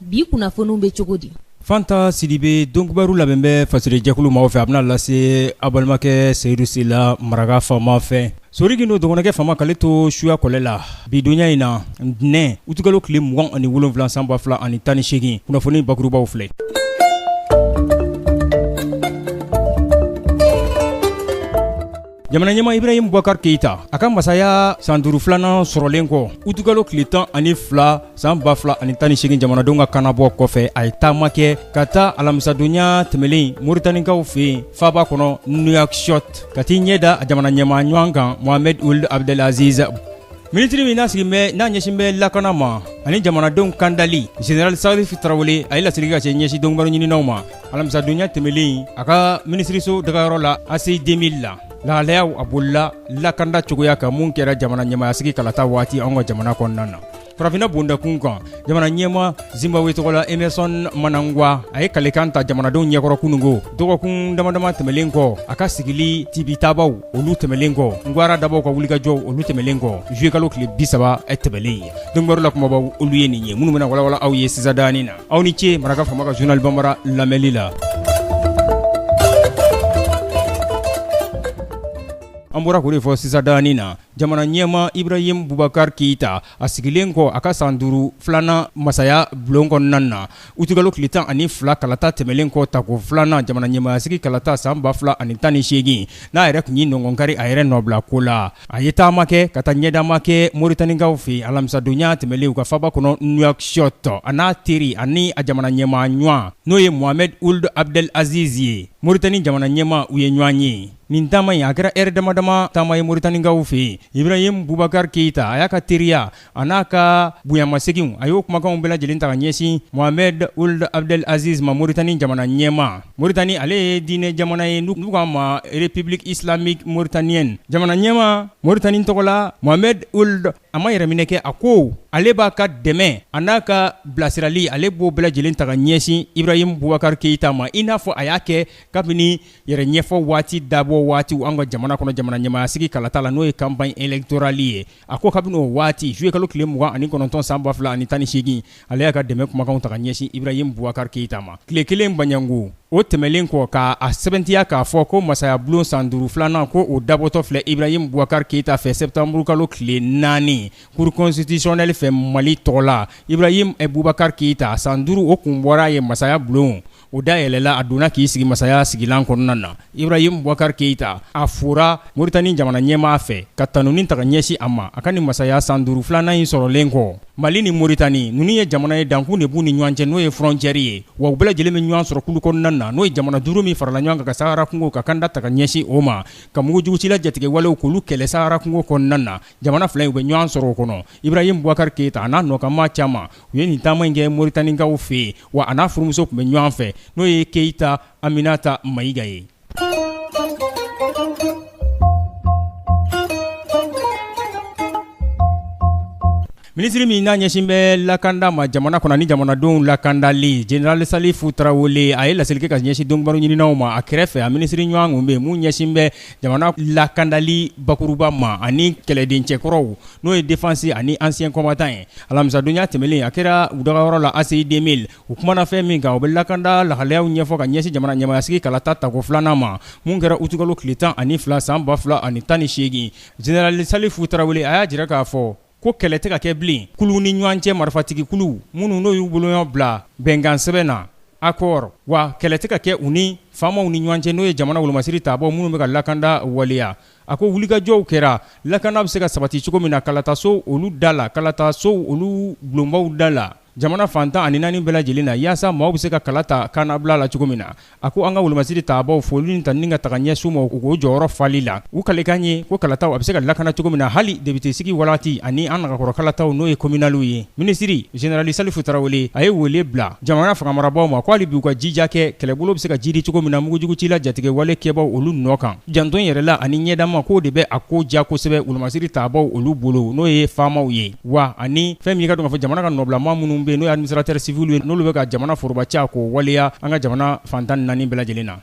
bi kunnafoniw bɛ cogo di fanta sidibe donkibaru labɛn bɛ fasiri jɛkulu maaw fɛ a bɛna lase a balimakɛ seyidu sila maraka faama fɛ sodiki don dɔgɔnkɛ faama k'ale to suya kɔlɛ la bi donya in na ntɛnɛn utikalo tile mugan ani wolonwula san ba fila ani tan ni segin kunnafoni bakurubaw filɛ jamana ɲɛma ibrahim bubakar keyita a ka masaya san duuru filanan sɔrɔlen kɔ utikalo tile tan ani fila san ba fila ani tan ni segin jamanadenw ka kannabɔ kɔfɛ a ye taama kɛ ka taa alamisadonya tɛmɛlen moritanikaw fɛ yen faaba kɔnɔ nouakchott ka t'i ɲɛ da a jamana ɲɛma ɲɔgɔn kan mohamed uld abdelaziz minisiri min n'a sigin bɛ n'a ɲɛsin bɛ lakana ma ani jamanadenw kandali general salifu tarawele a ye laseli ka se ɲɛsin donkibaru ɲininaw ma alamisadonya tɛmɛlen a ka minisiriso dagayɔrɔ la ACI 2000 la lahalayaw a bolila lakanda cogoya kan minnu kɛra jamana ɲɛmayasigi kalata waati an ka jamana kɔnɔna na farafinna bondakun kan jamana ɲɛma zimbabwe tɔgɔ la emerson mnangagwa a ye kalekan ta jamanadenw ɲɛkɔrɔ kunungo dɔgɔkun damadama tɛmɛlen kɔ a ka sigili tibitabaw olu tɛmɛlen kɔ ngwara dabaw ka wulikajɔw olu tɛmɛlen kɔ zuye kalo tile bisaba tɛmɛlen ye donkibaru la kumabaw olu ye nin ye minnu bɛna walawala aw ye sisadanin na aw ni ce maraka faama ka journal banbara lamɛnli la an bɔra k'o de fɔ sisandanin na jamana ɲɛma ibrahim bubakari keyita a sigilen kɔ a ka san duuru filanan masaya bulon kɔnɔna na utikalo tile tan ani fila kalata tɛmɛnen kɔ tako filanan jamana ɲɛmayasigi kalata san ba fila ani tan ni segin n'a yɛrɛ tun ye nɔngɔnkari a yɛrɛ nɔbila ko la A ye taama kɛ ka taa ɲɛdama kɛ Moritanikaw fɛ yen alamisadonya tɛmɛnen u ka faaba kɔnɔ Nouakchott a n'a teri ani a jamana ɲɛmaa ɲɔgɔn n'o ye Mohamed Ould Abdel Aziz ye Moritani jamana ɲɛmaa u ye ɲɔgɔn ye nin taama in a kɛra heure damadama taama ye Moritanikaw fɛ yen Ibrahim Boubacar Keita a y'a ka teriya a n'a ka bonyamasegin a y'o kumakanw bɛɛ lajɛlen ta ka ɲɛsin mohamed ould abdel aziz ma moritani jamana ɲɛma moritani ale ye diinɛ jamana ye n'u k'a ma république islamique mauritanienne jamana ɲɛma moritani tɔgɔ la mohamed ould a ma yɛrɛminɛ kɛ a ko ale b'a ka dɛmɛ a n'a ka bilasirali ale b'o bɛɛ lajɛlen ta ka ɲɛsin ibrahim bubakar keyita ma i n'a fɔ a y'a kɛ kabini yɛrɛ ɲɛfɔ waati dabɔ waati an ka jamana kɔnɔ jamana ɲɛmaayasigi kalata la n'o ye campagne électorale ye A ko kabini o waati zuye kalo tile mugan ani kɔnɔntɔn san ba fila ani tan ni segin ale y'a ka dɛmɛ kumakanw ta ka ɲɛsin ibrahim bubakari keyita ma tile kelen baɲango o tɛmɛlen kɔ k'a sɛbɛntiya k'a fɔ ko masaya bulon san duuru filanan ko o dabɔtɔ filɛ ibrahim bubakari keyita fɛ sɛtanburukalo tile naani cour constitutionnelle fɛ mali tɔgɔ la ibrahim bubakari keyita san duuru o kun bɔra ye masaya bulon O da yɛlɛla a donna k'i sigi masaya sigilan kɔnɔna na Ibrahim Boubacar Keyita a fora Moritani jamana ɲɛmaa fɛ ka tanuni ta ka ɲɛsin a ma a ka nin masaya san duuru filanan in sɔrɔlen kɔ Mali ni Moritani ninnu ye jamana ye dankun de b'u ni ɲɔgɔn cɛ n'o ye frontière ye wa u bɛɛ lajɛlen bɛ ɲɔgɔn sɔrɔ kulu kɔnɔna na n'o ye jamana duuru min farala ɲɔgɔn kan ka Sahara kungo ka kanda ta ka ɲɛsin o ma ka mugujugucila jatigɛwalew k'olu kɛlɛ Sahara kungo kɔnɔna na jamana fila in u bɛ ɲɔgɔn sɔrɔ o kɔnɔ Ibrahim Boubacar Keyita a n'a nɔkanmaa caman u ye nin taama in kɛ Moritanikaw fɛ wa a n'a furumuso tun bɛ ɲɔgɔn fɛ n'o ye Keyita Aminata Mayiga ye. Minisiri min n'a ɲɛsin bɛ lakanda ma jamana kɔnɔ ni jamanadenw lakandali General Salifu Tarawele a ye laseli kɛ ka ɲɛsin dɔnkibaru ɲininaw ma a kɛrɛfɛ a minisiri ɲɔgɔn tun bɛ yen mun ɲɛsin bɛ jamana lakandali bakuruba ma ani kɛlɛden cɛkɔrɔw n'o ye défense ani anciens combattants ye alamisadonya tɛmɛnlen a kɛra u dagayɔrɔ la ACI 2000 u kumana fɛn min kan o bɛ lakanda lahalayaw ɲɛfɔ ka ɲɛsin jamana ɲɛmaayasigi kalata tako filanan ma min kɛra utikalo tile tan ani fila san ba fila ani tan ni segin General Salifu Tarawele a y'a jira k'a fɔ Ko kɛlɛ tɛ ka kɛ bilen kulu ni ɲɔgɔn cɛ marifatigikulu minnu n'o y'u bolonɔ bila bɛnkansɛbɛn na accord wa kɛlɛ tɛ ka kɛ u ni faamaw ni ɲɔgɔn cɛ n'o ye jamana wolomasiritabaw minnu bɛ ka lakanda waleya a ko wulikajɔw kɛra lakanda bɛ se ka sabati cogo min na kalataso olu da la kalataso olu bulonbaw da la Jamana fan tan ani naani bɛɛ lajɛlen na yaasa maaw bɛ se ka kala ta kannabila la cogo min na a ko an ka wolomasiritabaw foli ni tanuni ka taga ɲɛsin u ma u ka jɔyɔrɔ fali la u kalekan ye ko kalataw a bɛ se ka lakana cogo min na hali depitesigi waati ani an nagakɔrɔ kalataw n'o ye kominaliw ye minisiri General Salifu Tarawele a ye wele bila jamana fanga marabagaw ma ko hali bi u ka jija kɛ kɛlɛbolo bɛ se ka jiidi cogo min na mugujugucila jatigɛwale kɛbaw olu nɔ kan jantoyɛrɛla ani ɲɛdama k'o de bɛ a ko diya kosɛbɛ wolomasiritabaw olu bolo n'o ye faamaw ye Wa ani fɛn min i k'a dɔn k'a fɔ jamana ka nɔbila maa minnu bɛ yen n'o ye administrateurs civils ye n'olu bɛ ka jamana forobaci k'o waleya an ka jamana fan 14 bɛɛ lajɛlen na.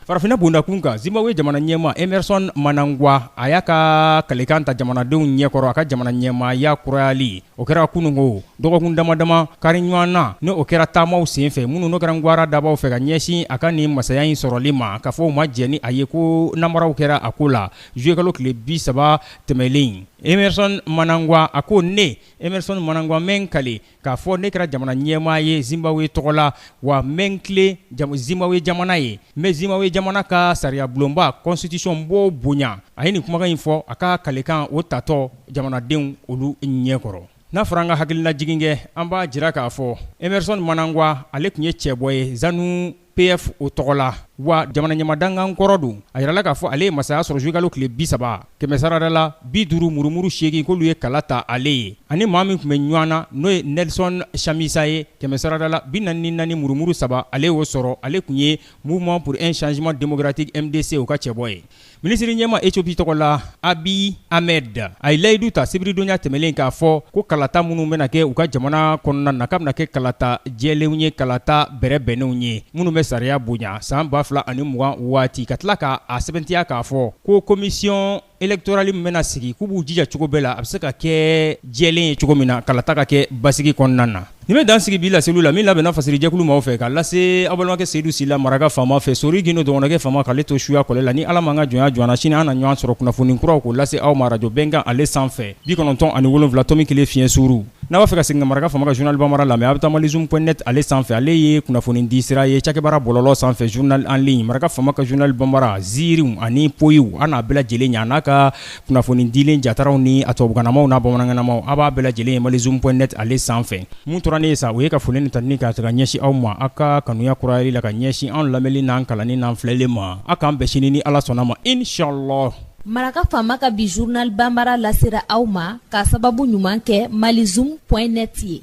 Farafinna bondakun kan Zimbabwe jamana ɲɛmaa Emmerson Mnangagwa a y'a ka kalekan ta jamanadenw ɲɛkɔrɔ a ka jamana ɲɛmaaya kurayali O kɛra kununko dɔgɔkun damadama kari ɲɔgɔn na ni o kɛra taamaw senfɛ minnu n'o kɛra gwaradabaw fɛ ka ɲɛsin a ka nin masaya in sɔrɔli ma k'a fɔ u ma jɛn ni a ye ko nanbaraw kɛra a ko la juillet kalo tile bi saba tɛmɛnlen Emmerson Mnangagwa a ko ne Emmerson Mnangagwa n bɛ n kale k'a fɔ ne kɛra jamana ɲɛmaa ye Zimbabwe tɔgɔ la wa n bɛ n tilen Zimbabwe jamana ye n bɛ Zimbabwe jamana ka sariyabulonba constitution b'o bonya a ye nin kumakan in fɔ a ka kalekan o tatɔ jamanadenw olu ɲɛ kɔrɔ n'a fɔra an ka hakilinajigin kɛ an b'a jira k'a fɔ Emerson Mnangagwa ale tun ye cɛbɔ ye ZANU PF o tɔgɔ la wa jamana ɲɛmaa dankan kɔrɔ don a yirala k'a fɔ ale ye masaya sɔrɔ juillet kalo tile bi saba kɛmɛ sarada la bi duuru murumuru seegin k'olu ye kala ta ale ye ani maa min tun bɛ ɲɔgɔn na n'o ye Nelson Chamisa ye kɛmɛ sarada la bi naani ni naani murumuru saba ale y'o sɔrɔ ale tun ye Mouvement pour un changement démocratique MDC o ka cɛbɔ ye Minisiri ɲɛma Ethiopie tɔgɔ la Abiy Ahmed a ye layidu ta sibiridonya tɛmɛlen k'a fɔ ko kalata minnu bɛna kɛ u ka jamana kɔnɔna na k'a bɛna kɛ kalata jɛlenw ye, kalata bɛrɛbɛnnenw ye, minnu bɛ sariya bonya san 2020 waati, ka tila k'a sɛbɛntiya k'a fɔ ko commission électorale min bɛna sigi k'u b'u jija cogo bɛɛ la a bɛ se ka kɛ jɛlen ye cogo min na, kalata ka kɛ basigi kɔnɔna na. Nin bɛ dan sigi bi laseliw la min labɛnna fasirijɛkulu maaw fɛ k'a lase aw balimakɛ Seydou Sila Maraka faama fɛ Sori Gindo dɔgɔnɔkɛ faama k'ale to suya kɔlɛ la ni Ala m'an ka jɔnya jɔna sini an na ɲɔgɔn sɔrɔ kunnafoni kuraw k'o lase aw ma rajo Bɛnkan ale sanfɛ bi kɔnɔntɔn ani wolonfila tomi kelen fiɲɛ suuru n'a b'a fɛ ka segin ka Maraka faama ka journal banbara lamɛn a bɛ taa Malizoom point net ale sanfɛ ale ye kunnafoni di sira ye cakɛbaara bɔlɔlɔ sanfɛ journal en ligne Maraka faama ka journal banbara ziirinw ani poyiw a n'a bɛɛ lajɛlen ɲɛ n'a ka kunnafoni dilen jataraw ni a tubabukanamaw n'a bamanankanamaw a' b'a bɛɛ lajɛlen ye Malizoom point net ale sanfɛ mun tora ne ye sa o ye ka foli ni tanuni kɛ ka taga ɲɛsin aw ma aw ka kanuya kurayali la ka ɲɛsin anw lamɛnni n'an kalanni n'an filɛli ma aw k'an bɛn sini ni Ala sɔnna ma inchallah Maraka faama ka bi journal banbaara lasera aw ma k'a sababu ɲuman kɛ Malizoom point net ye